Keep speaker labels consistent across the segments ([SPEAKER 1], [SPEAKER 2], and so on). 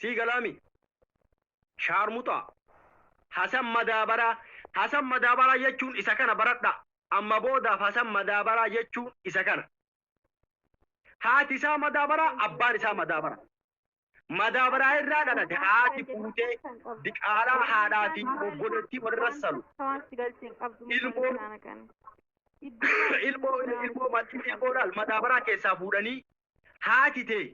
[SPEAKER 1] Sii galaa mi? Shaarmuxaa. Hasan Madaabaraa. Hasan Madaabaraa jechuun isa kana baradhaa. Amma boodaaf Hasan Madaabaraa jechuun isa kana. Haati isaa Madaabaraa, abbaan isaa Madaabaraa. Madaabaraa irraa dhalate haati fuutee diqaalaa haadhaa fi obboleettii walirra salu. Ilmoo ilmoo ilmoo ilmoo ilmoo laal madaabaraa keessaa fuudhanii haati tee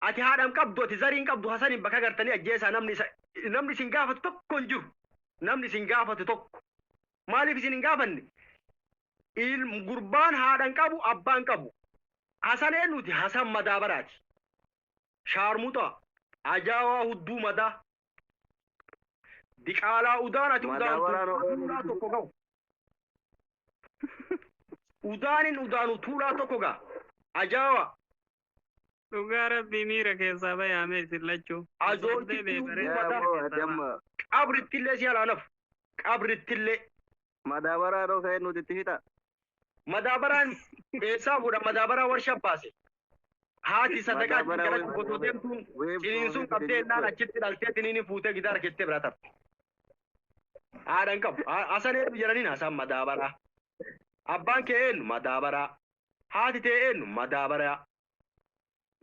[SPEAKER 1] Ati haadha hin qabdu, ati zarii hin qabdu, Hasaniin bakka gartanii ajjeesaa namni isa namni isin gaafatu tokko hin jiru. Namni isin gaafatu tokko. Maaliif isin hin gaafanne? Il gurbaan haadha hin qabu, abbaa hin qabu. Hasan eenyuti? Hasan madaabaraati. Shaarmuxaa, ajaawaa hudduu madaa. Diqaalaa udaan ati udaan Madaabaraan tuulaa Oromoo tuulaa tokko gahu. Udaanin udaanu tuulaa tokko gaha. Ajaawaa.
[SPEAKER 2] Dhugaa rabbii miira keessaa bayaame isin lachuu. Ajoo Osoo itti deebi'e bareeda Yaa ta'e boo keessaa ati amma
[SPEAKER 1] Qabrittillee si alaa nafu. Qabrittillee. madaabaraa
[SPEAKER 3] dhoo ka'ee nuti itti fixa. Madaabaraan
[SPEAKER 1] eessaa fuudha? Madaabaraa warshaa baase. Haati sadaqaa itti Madaabaraa galachuuf web- osoo web- deemtuun web- ciniinsuun web- qabdee innaan web- achitti dhaltee tiniini fuutee gidaara keessatti biraa tarte. Haadha hin qabu. Ha- Hasan hedduu jedhaniin haasaan madaabaraa. Abbaan kee eenyu? Madaabaraa. Haati tee eennu? Madaabarayaa.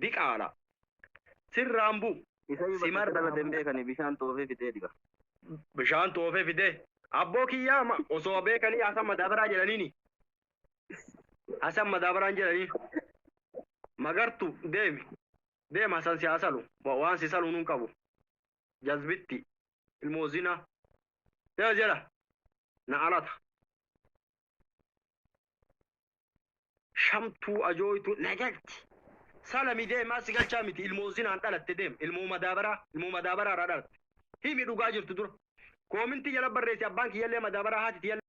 [SPEAKER 1] Diqaala. Sirraan bu. Isayu bakka itti dhalate
[SPEAKER 3] hin beekani bishaan xoofee fidee diba. Bishaan
[SPEAKER 1] xoofee fidee. Abboo kiyyaa ma osoo beekanii hasan madaabaraa jedhaniini. Hasan madaabaraan jedhaniin. Magartu deemi. Deem hasan si haa salu. Wa- Waan si saluun hin qabu. Jazbitti. Ilmoo zinaa. Deema jedha. Na alata. shamtuu ajooytu na galchi salami deemaa si galchaa miti ilmoo zinaan dhalatte deem ilmoo madaabaraa ilmoo madaabaraa irraa dhalatte himi dhugaa jirtu dura koomintii jala barreessi abbaan kiyyallee madaabaraa haati tiyyallee